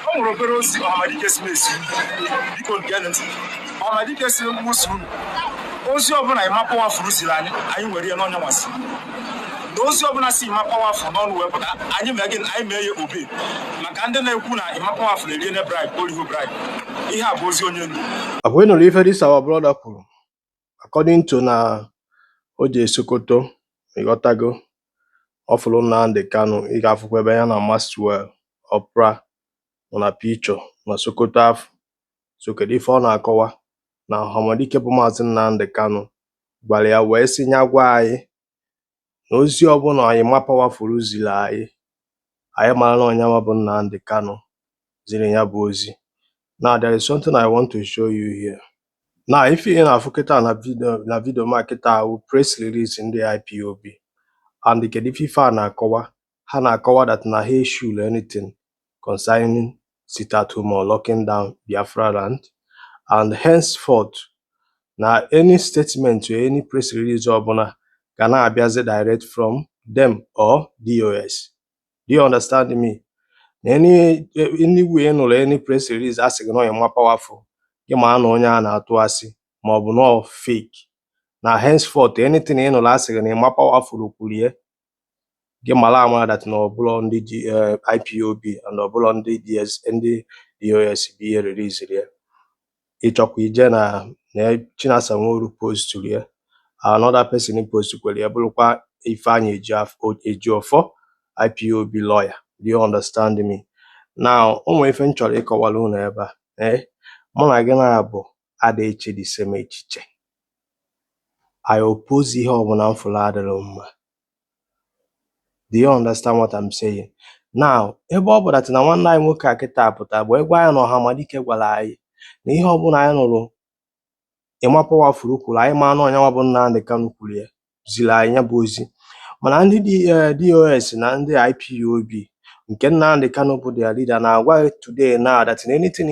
ọ nwere obere ozi Ọhamadike sị m zie biko geenụ ntị Ọhamadike sị mụ sị unu ozi ọbụla Emma Powerful ziri anyị anyị nwere ya n'ọ nyanwa sị na ozi ọbụla si Emma Powerful n'ọnụ wee pụta anyị mee gị anyị mee ya obey maka ndị na-ekwu na Emma Powerful eriene bribe o riho bribe ihe a bụ ozi onye ndu Ọ kwa ị nụrụ ife this our brother kwuru according to na o jee Sokoto ị ghọtago ọ fụrụ Nnamdi Kanu ị ga-afụkwa ebe ya na Maxwell Opara nọ na picture na Sokoto afụ so kedu ife ọ na-akọwa na Ọhamadike bụ Maazị Nnamdi Kanu gwara ya wee sị nya gwa anyị na ozi ọbụla Emma Powerful ziri anyị anyị mara na ọ nyanwa bụ Nnamdi Kanu ziri ya bụ ozi now there is something I want to show you here now ife ị na-afụ kịta na video na video m a kịta wụ press release ndị IPOB and kedu ife fa na-akọwa ha na-akọwa that na ha issuelọ anything concerning sit at home or locking down Biafra land and henceforth na any statement or any press release ọbụla ga na-abịazi direct from them or DOS. Do you understand me? na anywhere ị nụrụ any press release a sị gị na ọ Emma Powerful gị ma na onye a na-atụ asị ma ọ bụ na fake na henceforth anything ị nụrụ a sị gị na Emma Powerful kwuru ya gị mara amara that na ọ bụlọ ndị ji eh, IPOB and ọ bụlọ ndị DS ndị DOS bụ ihe releasiri ya ị chọkwa ije na na Chinasa Nworu posturu ya another person postukwere ya bụrụkwa Ifeanyi Eji af- o- Ejiofor IPOB lawyer do you understand me now o nwere ife m chọrọ ịkọwara unu ebe a ee mụ na gị naabọ ada eche the same echiche I oppose ihe ọbụla m fụrụ adịrọ mma do you understand what I'm saying now ebe ọ bụ that na nwanne anyị nwoke a kịta pụta wee gwa anyị na Ọhamadike gwara anyị na ihe ọbụla anyị nụrụ Emma Powerful kwuru anyị ma na ọ nyanwa bụ Nnamdi Kanu kwuru ya ziri anyị ya bụ ozi mana ndị DOS eh, na ndị IPOB nke Nnamdi Kanu bụ their leader na-agwa today now that na anything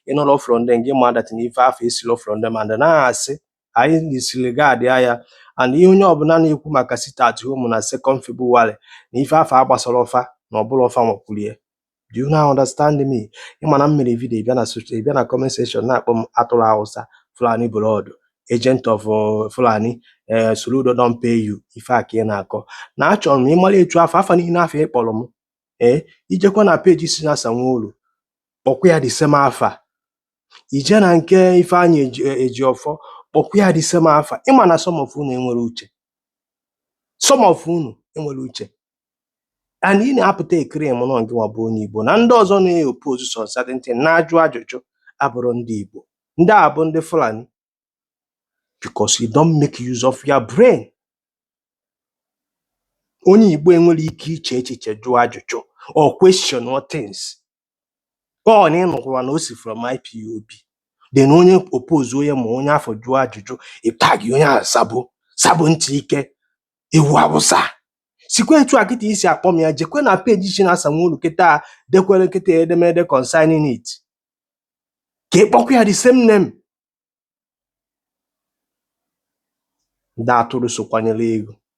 ị nụrọ from them gị ma that na ife afụ esirọ from them and na-asị anyị disregardịa ya and ihe onye ọbụla na-ekwu maka sit at home na second February na ife afụ agbasarọ fa na ọ bụrọ fa nwa kwuru ya do you now understand me ị ma na m mere video bịa na soch- bịa na comment section na-akpọ m atụrụ Awụsa Fulani blood agent of uh, Fulani eh, Soludo don pay you ife a ka ị na-akọ na achọrọ m ịmara etu afụ afa niile afụ ị kpọrọ m ee ị jekwa na page Chinasa Nworu kpọkwa ya the same afa ị je na nke Ifeanyi Eji Ejiofor kpọkwa ya the same afa ị ma na some of unu enwerọ uche some of unu enwerọ uche and ị na-apụta e-claim na ọ ngịnwa bụ onye Igbo na ndị ọzọ na-oppose some certain thing na-ajụ ajụjụ abụrọ ndị Igbo ndị a bụ ndị Fulani because you don't make use of your brain onye Igbo enwere ike iche echiche jụọ ajụjụ or question or things ọ na ị nụkwara na o si from IPOB then onye oppose onye ma onye afụ jụọ ajụjụ ị tag onye ahụ sabo sabo ntị ike ewu Awụsa sikwa etu a kịta i si akpọ m ya jekwe na peji Chinasa Nworu kịta dekwere kịta edemede concerning it ka ị kpọkwa ya the same name ndị atụrụ so kwanyere ego